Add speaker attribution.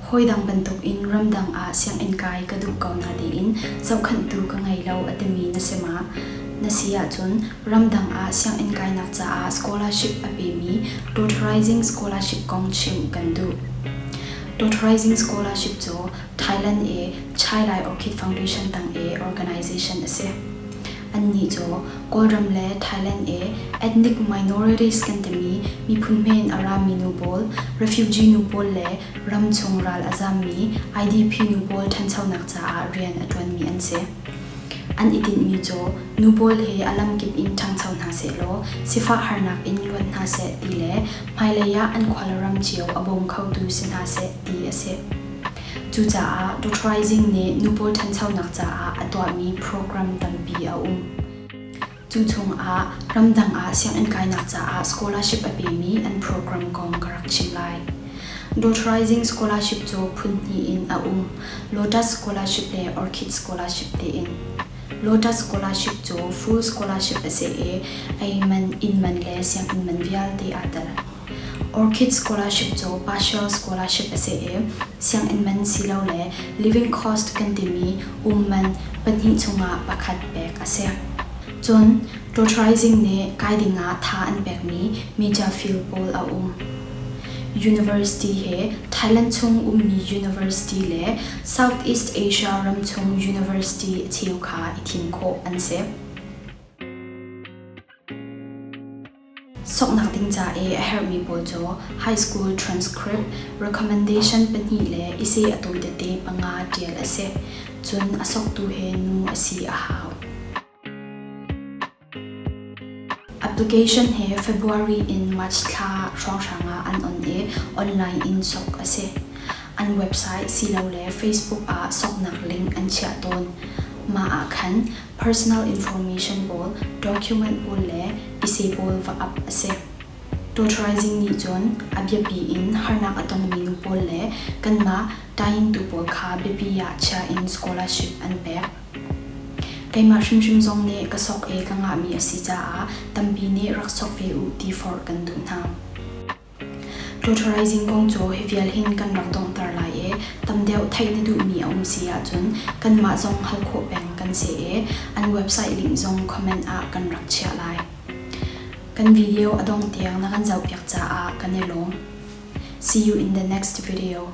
Speaker 1: Hawidang bantukin ramdang ah sianginn kai ka duh ko na tiin zohkhanhtu ka ngei lo a timi na si ma? Na si ahcun ramdang ah sianginn kainak caah scholarship a pemi Totalizing Scholarship kong chim kan duh. Totalizing Scholarship cu Thailand i Chai Lai Orchid Foundation tang i organization a si. Annih cu Kawlram le Thailand i ethnic minorities kan timi miphun hme in a rami nu pawl, refugee nu pawl le ram chung ral a zammi IDP nu pawl ṭhanchonak caah rian a ṭuanmi an si. An i tinhmi cu nu pawl hi a lamkip in ṭhangcho hna sehlaw sifah harnak in luat hna seh ti le hmailei ah an khual ram cio a bawm khotu si hna seh ti a si. Cucaah Dot Rising nih nupaw ṭhanchonak caah a tuahmi program tampi a um. Cu chungah ramdang ah sianginn kainak caah scholarship a pemi an program kong ka rak chim lai. Dot Rising Scholarship cu phun hnih in a um. Lotus Scholarship le Orchid Scholarship tiin. Lotus Scholarship cu full scholarship a si i, ei man, inn man le sianginn man vialte aa tel. Orchid Scholarship cu partial scholarship a si i sianginn man silole living cost kan timi um man pahnih chungah pakhat pek a si. Cun totalizing nih kai dingah tha an pekmi media field pawl a um. University he Thailand chung ummi university le Southeast Asia ram chung university cheu kha i thim khawh an si. Soknak ding ca i a herhmi pawl cu high school transcript recommendation pahnih le i seh a tawi tete panga ṭial a si. Cun a soktu he nu a si a hau. Application he February in March thla hrawnghrang ah an on i online in sok a si. An website silole Facebook ah soknak link an chiah tawn. Mah ah khan personal information pawl document pawl le ise pawl va ap a si. Tawtaraizing nih cun a biapi in harnak a tongmi nu pawl le kanmah Taingtu pawl kha biapi ah chia in scholarship an pek. Keimah hrimhrim zong nih ka sok i ka ngahmi a si caah tampi nih rak sok ve u ti forh kan duh hna. Pulturizing kong cu hi vial hin kan rak donghter lai i tam deuh theih na duhmi a um si ahcun kanmah zong hal khawh peng kan si i an website link zong comment ah kan rak chiah lai. Kan video a dongh tiang na kan zohpiak caah kan i lawm. See you in the next video.